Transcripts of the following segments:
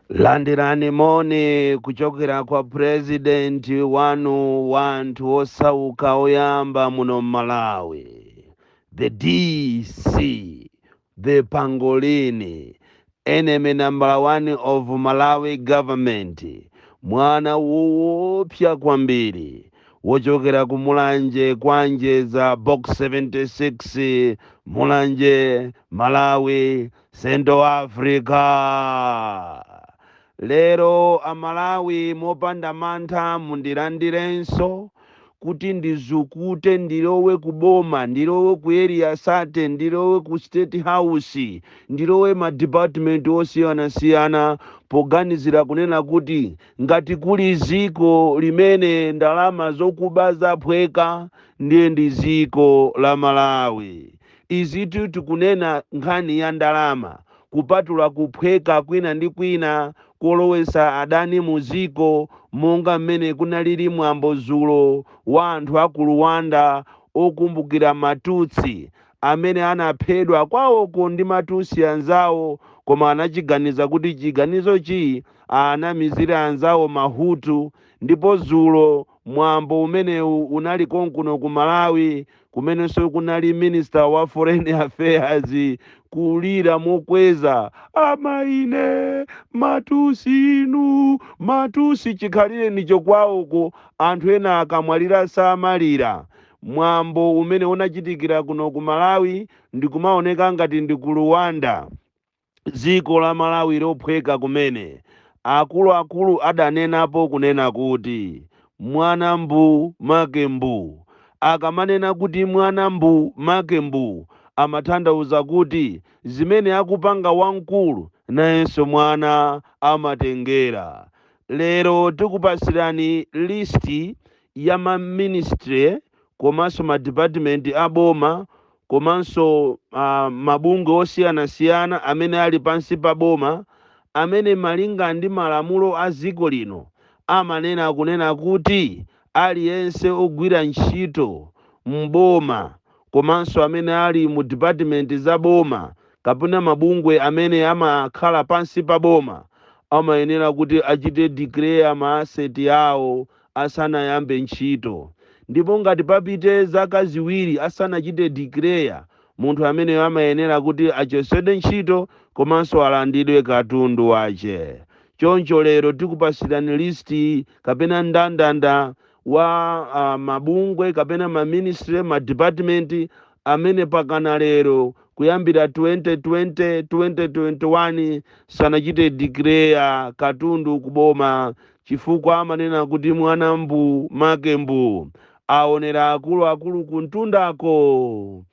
landirani moni kuchokera kwa purezidenti wanu wanthu osauka oyamba muno m'malawi the dc the pangolini enemy number one of malawi government mwana woopsa kwambiri wochokera ku Mulanje kwa Njeza box 76 Mulanje Malawi Central Africa lero amalawi mopanda mantha mundilandirenso kuti ndizukute ndilowe ku boma ndilowe ku Area 30 ndilowe ku state house ndilowe ma department osiyanasiyana poganizira kunena kuti Ngati kuli ziko limene ndalama zokuba zaphweka ndiye ndi ziko la Malawi. Izitu tikunena nkhani ya ndalama kupatula kuphweka kwina ndi kwina kolowesa adani mu ziko monga m'mene kunalili mwambo zulo wa anthu a ku Luwanda okumbukira ma Tutsi amene anaphedwa kwawoko ndi ma Tutsi anzawo koma anachiganiza kuti chiganizo chi anamizire anzawo ma Hutu ndipo zulo mwambo umenewu unali konkuno ku Malawi kumenenso kunali Minister wa Foreign Affairs kulira mokweza amaine ma Tutsi inu ma Tutsi chikhalirenicho kwawoko anthu ena akamwalira samalira mwambo umene unachitikira kuno ku Malawi ndikumaoneka ngati ndi ku Luwanda dziko la Malawi lophweka kumene, akuluakulu adanenapo kunena kuti mwana mbuu make mbuu. Akamanena kuti mwana mbuu make mbuu amathandauza kuti zimene akupanga wamkulu nayenso mwana amatengera. Lero tikupasirani list ya ma ministry komanso ma department a boma komanso mabungwe osiyanasiyana amene ali pansi pa boma amene malinga ndi malamulo a dziko lino amanena kunena kuti aliyense ogwira ntchito m'boma komanso amene ali mu department za boma kapena mabungwe amene amakhala pansi pa boma amayenera kuti achite declare ma asset awo asanayambe ntchito. Ndipo ngati papite zaka ziwiri asanachite declare, munthu ameneyo amayenera kuti achosedwe ntchito komanso alandidwe katundu wache. Choncho lero tikupasilani list kapena ndandanda wa mabungwe kapena ma ministry, ma department amene pakana lero kuyambira 2020, 2021 sanachite declare katundu ku boma Chifukwa amanena kuti mwana mbuu, make mbuu. Aonera akulu akulu kumtundako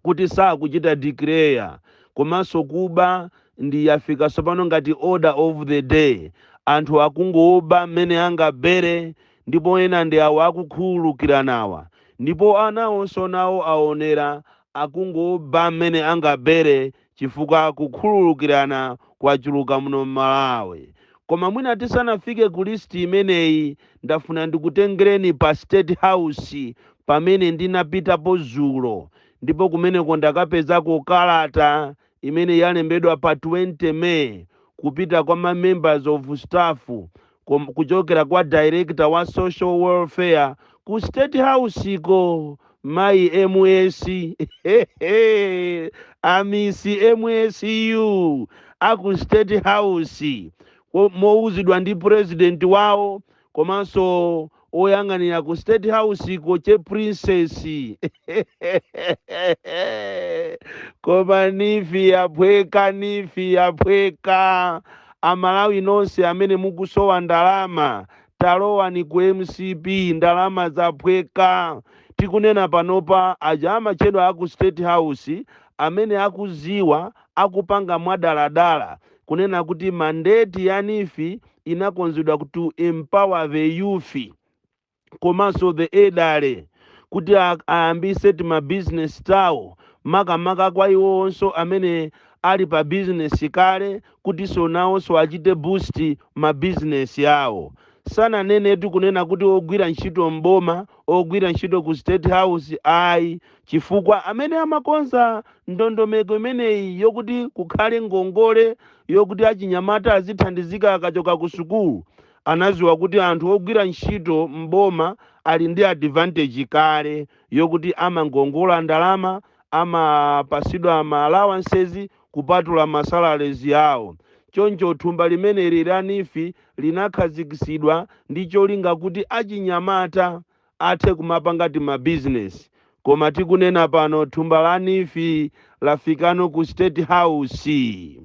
kuti sakuchita declare komanso kuba ndi yafika tsopano ngati order of the day. Anthu akungoba mmene angabere ndipo ena ndi awa akukhululukiranawa. Ndipo anawonso nawo aonera akungoba mmene angabere chifukwa kukhululukirana kwachuluka muno m'Malawi. Koma mwina tisanafike ku list imeneyi, ndafuna ndikutengereni pa State House pamene ndinapitapo zulo ndipo kumeneko ndakapezako kalata imene yalembedwa pa 20 May kupita kwa ma members of staff kuchokera kwa director wa social welfare ku state house ko mayi ms amisi msu aku state house mowuzidwa ndi president wawo komanso oyang'anira ku state house ko che princess koma NEEF yaphweka NEEF yaphweka amalawi nonse amene mukusowa ndalama talowani ku mcp ndalama zaphweka tikunena panopa aja amatchedwa aku state house amene akuziwa akupanga mwadaladala kunena kuti mandate ya NEEF inakonzedwa to empower the youth komaso the elderly kuti ayambise tima business tawo makamaka kwa iwowonso amene ali pa business kale kutiso nawoso achite boost ma business awo. Sananenetu kunena kuti ogwira ntchito m'boma, ogwira ntchito ku state house ayi chifukwa amene amakonza ndondomeko imeneyi yokuti kukhale ngongole yokuti achinyamata azithandizika akachoka ku sukulu anaziwa kuti anthu ogwira ntchito m'boma ali ndi advantage kale yokuti amangongola ndalama amapasidwa ma allowances kupatula ma salaries awo choncho thumba limeneli la NEEF linakhazikisidwa ndi cholinga kuti achinyamata athe kumapanga tima business koma tikunena pano thumba la Neef lafikano ku state house.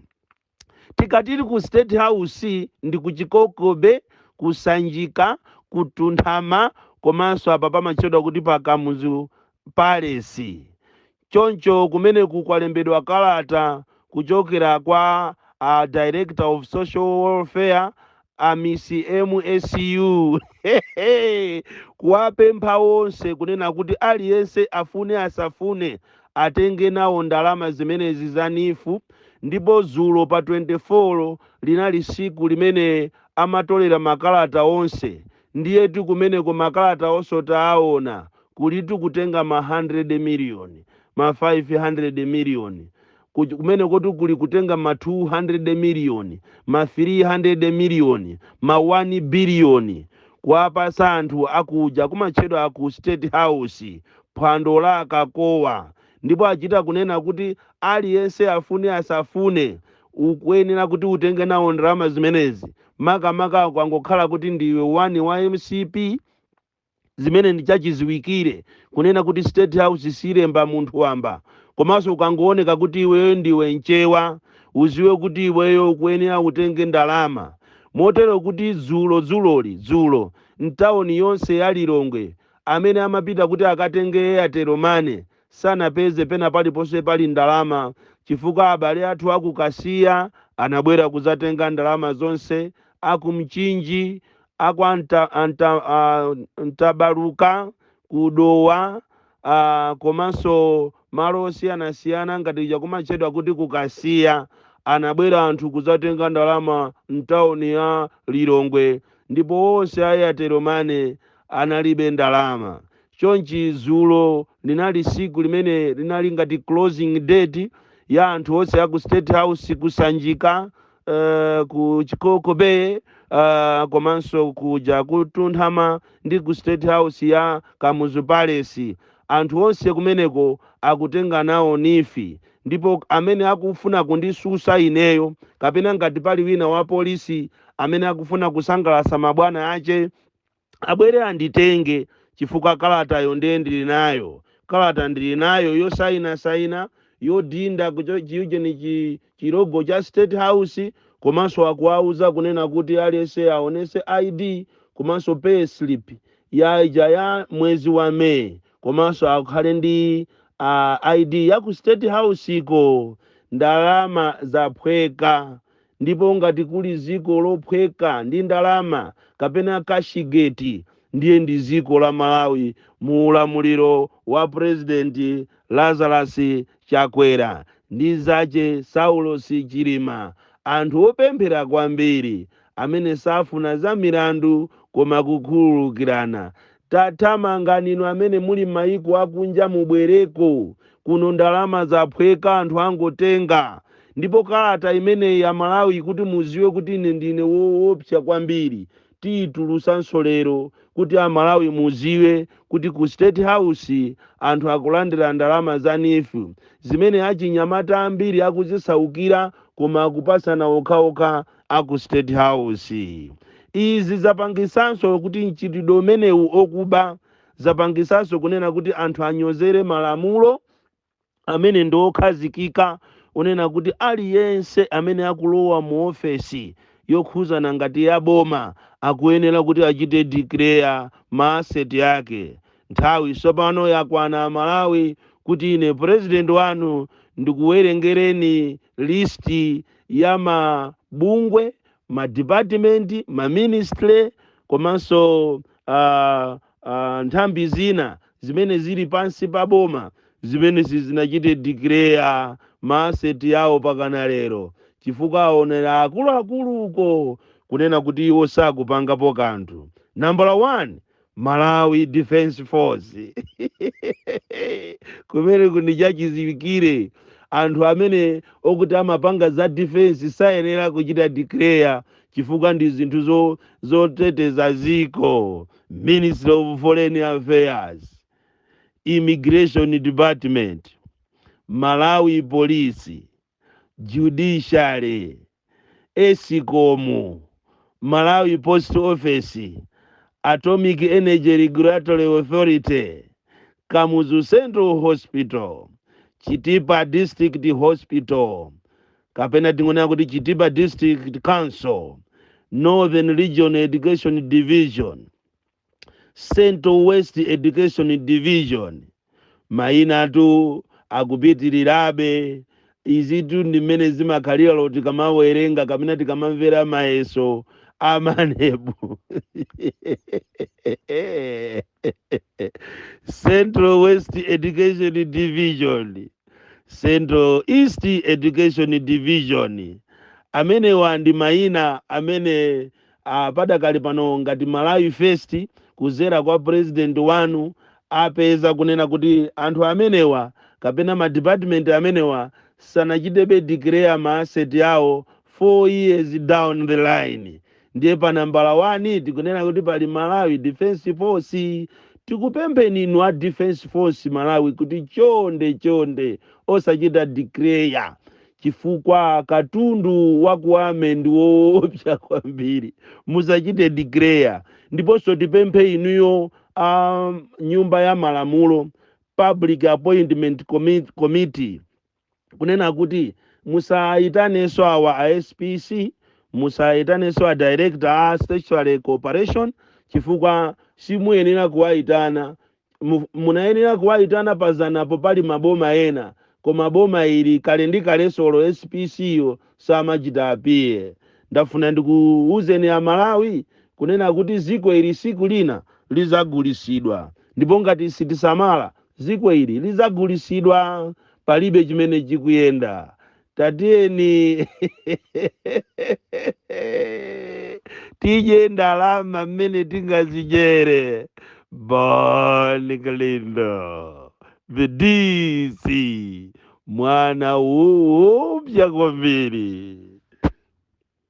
Tikati ili ku state house ndi ku Chikoko Bay, ku Sanjika, ku Mtunthama komanso apa pamatchedwa kuti pa Kamuzu palace. Choncho kumeneku kwalembedwa kalata kuchokera kwa a Director of Social Welfare, a Miss MSU, kuwapempha onse kunena kuti aliyense afune asafune atenge nawo ndalama zimenezi za neef ndipo dzulo pa 24 linali tsiku limene amatolera makalata onse Ndiyetu kumeneko makalata onse taawona, kulitu kutenga ma 100 million, ma 500 million, kuc, kumenekotu kuli kutenga ma 200 million, ma 300 million, ma 1 billion kuwapasa anthu a kuja kumatchedwa ku State House, phwando la akakowa, ndipo achita kunena kuti aliyense afune asafune Ukuyenera kuti utenge nawo ndalama zimenezi makamaka ukangokhala kuti ndiwe wani wa mcp zimene ndi chachiziwikire kunena kuti state house silemba munthu wamba komanso ukangooneka kuti iweyo ndiwe mchewa uziwe kuti iweyo ukuyenera utenge ndalama motero kuti dzulo dzuloli dzulo mtawoni yonse ya lilongwe amene amapita kuti akatenge airtel money sanapeze pena paliponse pali ndalama chifukwa abale athu a ku Kasiya anabwera kudzatenga ndalama zonse, a ku Mchinji, a kwa Nta, a Nta, a, Mtabaluka, ku Dowa, a, komanso malo osiyanasiyana ngati kuja kumatchedwa kuti ku Kasiya. Anabwera anthu kudzatenga ndalama m'tauni ya Lilongwe ndipo onse a Airtel Money analibe ndalama. Chonchi zulo linali siku limene linali ngati closing date ya anthu onse aku state house ku Sanjika, uh, ku Chikoko bay, uh, komanso kuja ku Mtunthama ndi ku state house ya Kamuzu palace. Anthu onse kumeneko akutenga nawo neef ndipo amene akufuna kundisusa ineyo kapena ngati pali wina wa police amene akufuna kusangalasa mabwana ache, abwere anditenge chifukwa kalatayo ndiye ndili nayo kalata ndili nayo yosainasaina yodinda kucho- chiujeni chi- chilogo cha state house komanso akuwauza kunena kuti aliyense aonese id komanso pay slip ya ija ya mwezi wa may komanso akhale ndi uh, id ya ku state house iko ndalama zaphweka Ndipo ngati kuli dziko lophweka ndi ndalama kapena cashigate ndiye ndi dziko la Malawi mu ulamuliro wa President Lazarus Chakwera ndi zache Saulos Chilima anthu opemphera kwambiri amene safuna za milandu koma kukhululukirana Tathamangani inu amene muli mmaiko akunja mubwereko kuno ndalama zaphweka anthu angotenga ndipo kalata imeneyi amalawi kuti muziwe kuti ine ndine woopsa kwambiri tiitulusanso lero kuti amalawi muziwe kuti ku state house anthu akulandira ndalama za neef zimene achinyamata ambiri akuzisaukira koma akupasana okhaokha a ku State House. Izi zapangisanso kuti mchitidwe umenewu okuba zapangisanso kunena kuti anthu anyozere malamulo amene ndi okhazikika kunena kuti aliyense amene akulowa mu ofesi yokhuzana ngati ya boma akuyenera kuti achite declare ma asset ake. Nthawi tsopano yakwana Amalawi kuti ine president wanu ndikuwerengereni list ya mabungwe, ma department, ma ministry komanso uh, uh, nthambi zina zimene zili pansi pa boma zimene sizinachite declare ma asset yawo pakana lero chifukwa aonera akuluakulu uko kunena kuti iwo sakupangapo kanthu nambala 1 malawi defense force kumeneku ndi chachiziwikire anthu amene okuti amapanga za defense sayenera kuchita declare chifukwa ndi zinthu zo- zoteteza ziko ministry of foreign affairs immigration department malawi police judiciary, escom, Malawi Post Office, Atomic Energy Regulatory Authority, Kamuzu Central Hospital, Chitipa District Hospital, kapena tingonena kuti Chitipa District Council, Northern Region Education Division, Central West Education Division. Mayinatu akupitirirabe. Izitu ndi mmene zimakhalira tikamawerenga kapena tikamamvera mayeso a MANEB. Central West Education Division. Central East Education Division. Amenewa ndi mayina amene Ah, padakali pano ngati Malawi First kuzera kwa president wanu apeza kunena kuti anthu amenewa kapena ma department amenewa sanachitebe declare ma asset awo 4 years down the line ndiye pa nambala 1 tikunena kuti pali Malawi Defence Force tikupempheni inu a Defence Force Malawi kuti chonde chonde osachita declare chifukwa katundu wakuba mene ndi woopsa kwambiri musachite declare ndiponso tipemphe inuyo a nyumba ya malamulo public appointment Commit- committee kunena kuti musayitanenso awa a spc musayitanenso a director a statutory corporation chifukwa simuyenera kuwayitana mu- munayenera kuwayitana panapo pali maboma ena koma boma ili kale ndi kale solo spc yo samachita appear ndafuna ndikuwuzeni amalawi kunena kuti ziko ili siku lina lizagulisidwa ndipo ngati sitisamala ziko ili lizagulisidwa palibe chimene chikuyenda tatiyeni tidye ndalama mmene tingazidyere bon kalindo the dc mwana oopsya kwambiri